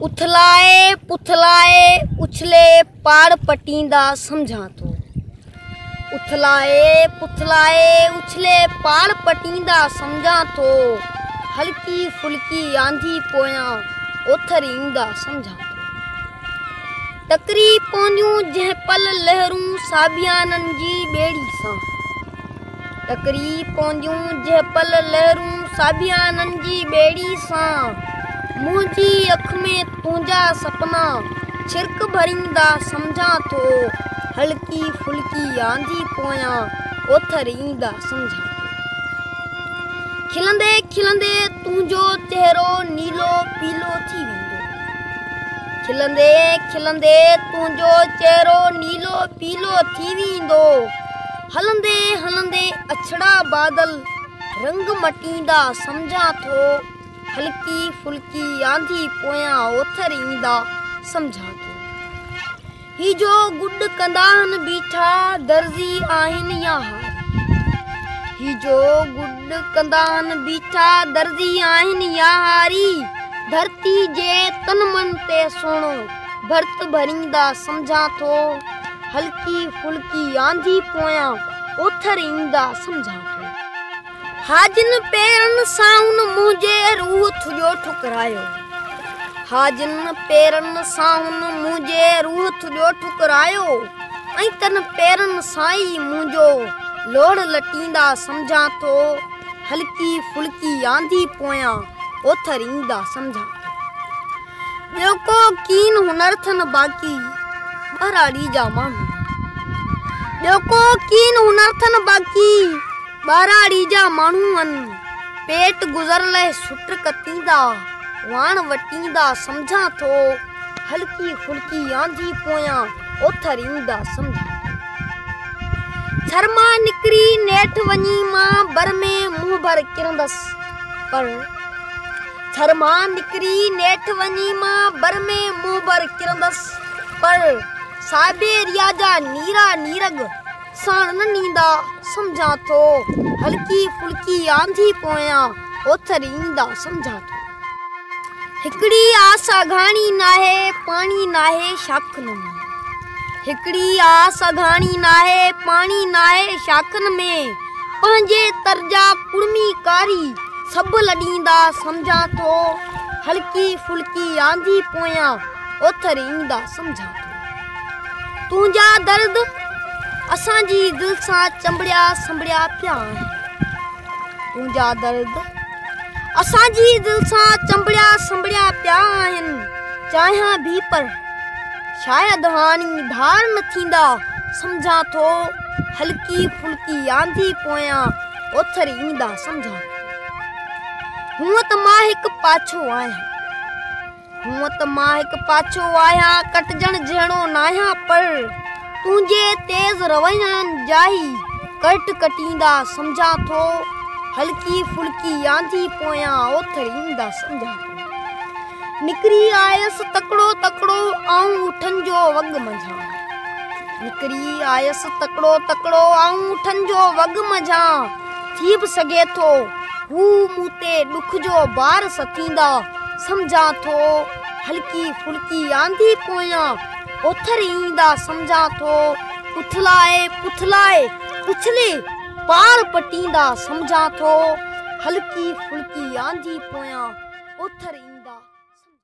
اٿلائي پٿلائي اڇلي پاڙ پٽيندا سمجهان ٿو اٿلائي پٿلائي اڇلي پاڙ پٽيندا سمجهان ٿو هلڪي ڦلڪي آنڌي پويان اوٿر ايندا سمجهان ٿو ٽڪري پونديون جنهن پل لهرون ساڀيانن جي ٻيڙي سان ٽڪري پونديون جهپل لهرون ساڀيانن جي ٻيڙي سان منهنجي اک ۾ تنهنجا سپنا ڇرڪ ڀريندا سمجهان ٿو هلڪي ڦلڪي آنڌي پويان اوٿر ايندا سمجهان ٿو کلندي کلندي تنهنجو چهرو نيلو پيلو ٿي ويندو کلندي کلندي تنهنجو چهرو نيلو پيلو ٿي ويندو هلندي هلندي اڇڙا بادل رنگ مٽيندا سمجهان ٿو هلڪي ڦلڪي آنڌي پويان اوٿر ايندا سمجهان ٿو هي جو گڏ ڪنداهن بيٺا درزي آهن يا هار هي جو گڏ ڪنداهن بيٺا درزي آهن يا هاري ڌرتي جي تن من تي سهڻو ڀرت ڀريندا سمجهان ٿو هلڪي ڦلڪي آنڌي پويان اوٿر ايندا سمجهان ٿو. هاجن پيرن سانهن منهنجي روح ٿڄو ٺڪرايو. هاجن پيرن سانهن منهنجي روح ٿڄو ٺڪرايو ۽ تن پيرن سان ئي منهنجو لوڙ لٽيندا سمجهان ٿو. هلڪي ڦلڪي آنڌي پويان اوٿر ايندا سمجهان ٿو. ٻيو ڪو ڪين هنر ٿن باقي ٻهراڙي جا ماڻهو ٻيو ڪو ڪين هنر ٿن باقي ٻهراڙي جا ماڻهو هن پيٽ گذر لئه سٽ ڪتيندا واڻ وٽيندا سمجهان ٿو هلڪي ڦلڪي آندي پويان اوٿر ايندا سمجهان ٿر مان نڪري نيٺ وڃي مان بر ۾ منهن ڀر ڪرندس پر ٿر مان نڪري نيٺ وڃي مان بر ۾ منهن بر ڪرندس پر سائبيريا جا نيرا نيرڳ ساڻ نه نيندا سمجهان ٿو هلڪي ڦلڪي آنڌي پويان اوٿر ايندا سمجهان ٿو هڪڙي آس اگهاڻي ناهي پاڻي ناهي شاخن ۾ هڪڙي آس اگهاڻي ناهي پاڻي ناهي شاخن ۾ پنهنجي طرز ڪڙمي ڪاري سڀ لڏيندا سمجهان ٿو هلڪي ڦلڪي آندي پويان اوٿر ايندا سمجهان ٿو تنهنجا درد اسان جي دل سان چنبڙيا سنبڙيا پيا آهن تنهنجا درد اسان جي دل سان چنبڙيا سنبڙيا پيا آهن چاهيان به پر شايد هاڻي ڌار نه ٿيندا سمجهان ٿو هلڪي ڦلڪي آنڌي پويان اوٿر ايندا سمجهان هونء ته مان هڪ پاڇو آهيان هونء ته مان هڪ پاڇو آهيان ڪٽجڻ جهڙو ناهيان پر تنهنجي تيز روين جاهي ڪرٽ ڪٽيندا سمجهان ٿو هلڪي ڦلڪي آنڌي پويان اوٿر ايندا سمجهان ٿو نڪري آيس تڪڙو تڪڙو آئون اٺن جو وڳ منجهان نڪري آيس تڪڙو تڪڙو آئون اٺن جو وڳ منجهان ٿي به سگهي ٿو هو مون تي ڏک جو بار ستيندا سمجهان ٿو هلڪي ڦلڪي آندي پويان اوٿر ايندا سمجهان ٿو اٿلائي پٿلائي اٿلي پار پٽيندا سمجهان ٿو هلڪي ڦلڪي آنڌي پويان اوٿر ايندا.